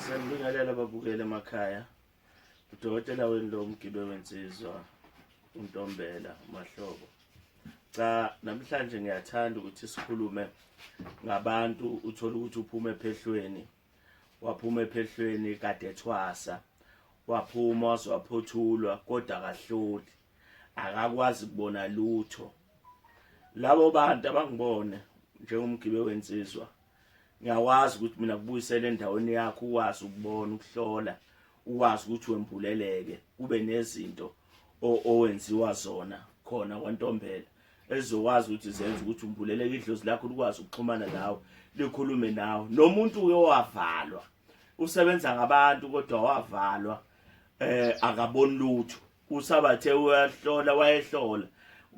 Sanibingelela babukeli emakhaya. Udokotela wenu lo mgibe wensizwa uNtombela Mahlobo. Cha namhlanje ngiyathanda ukuthi sikhulume ngabantu uthola ukuthi uphuma ephehlweni. Waphuma ephehlweni kade ethwasa. Waphuma wazwaphothulwa kodwa akahloli. Akakwazi kubona lutho. Labo bantu abangibone njengomgibe wensizwa ngiyakwazi ukuthi mina kubuyisele endaweni yakho ukwazi ukubona ukuhlola ukwazi ukuthi wembuleleke kube nezinto owenziwa zona khona kwantombela ezokwazi ukuthi zenze ukuthi umbuleleke idlozi lakho likwazi ukuxhumana nawe likhulume nawe nomuntu uye wavalwa usebenza ngabantu kodwa wavalwa eh akaboni lutho usabathe uyahlola wayehlola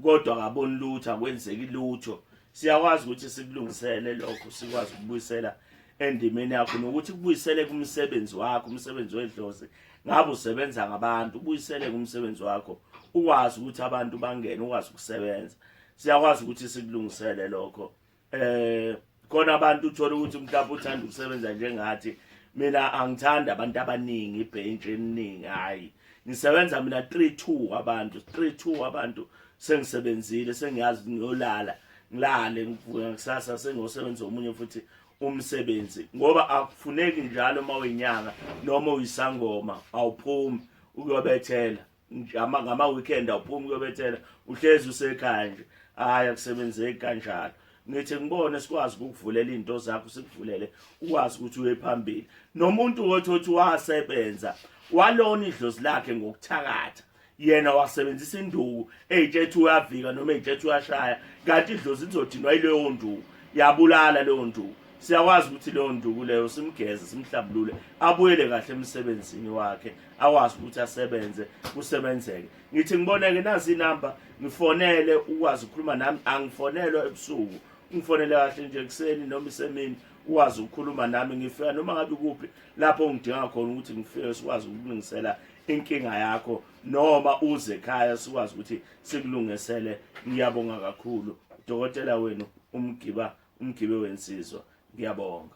kodwa akaboni lutho akwenzeki lutho siyakwazi ukuthi sikulungisele lokho sikwazi ukubuyisela endimeni yakho nokuthi kubuyisele kumsebenzi wakho umsebenzi wedlozi ngabe usebenza ngabantu ubuyisele kumsebenzi wakho ukwazi ukuthi abantu bangene ukwazi ukusebenza siyakwazi ukuthi sikulungisele lokho eh khona abantu uthola ukuthi mhlawumbe uthanda ukusebenza njengathi mina angithandi abantu abaningi ibhentshe eliningi hayi ngisebenza mina 32 abantu 32 abantu sengisebenzile sengiyazi ngiyolala ngilale ngivuka kusasa sengosebenza omunye futhi umsebenzi ngoba akufuneki njalo uma uyinyanga noma uyisangoma awuphumi ukuyobethela njama ngama weekend awuphumi kuyobethela uhlezi usekhaya nje hayi akusebenzeki kanjalo ngithi ngibone sikwazi ukukuvulela izinto zakho sikuvulele ukwazi ukuthi uye phambili nomuntu wothi othi wasebenza walona idlozi lakhe ngokuthakatha yena wasebenzisa induku eyithethe uyavika noma eyithethe uyashaya kanti idlozi lizodinwa yileyo nduku yabulala leyo nduku siyakwazi ukuthi leyo nduku leyo simgeze simhlabulule abuyele kahle emsebenzini wakhe awazi ukuthi asebenze kusebenzeke ngithi ngiboneke nazi inamba ngifonele ukwazi ukukhuluma nami angifonelwa ebusuku ngifonele kahle nje kuseni noma isemini ukwazi ukukhuluma nami ngifika noma ngabe kuphi lapho ngidinga khona ukuthi ngifike sikwazi ukulungisela inkinga yakho noma uze ekhaya sikwazi ukuthi sikulungisele ngiyabonga kakhulu udokotela wenu umgiba umgibe wensizwa ngiyabonga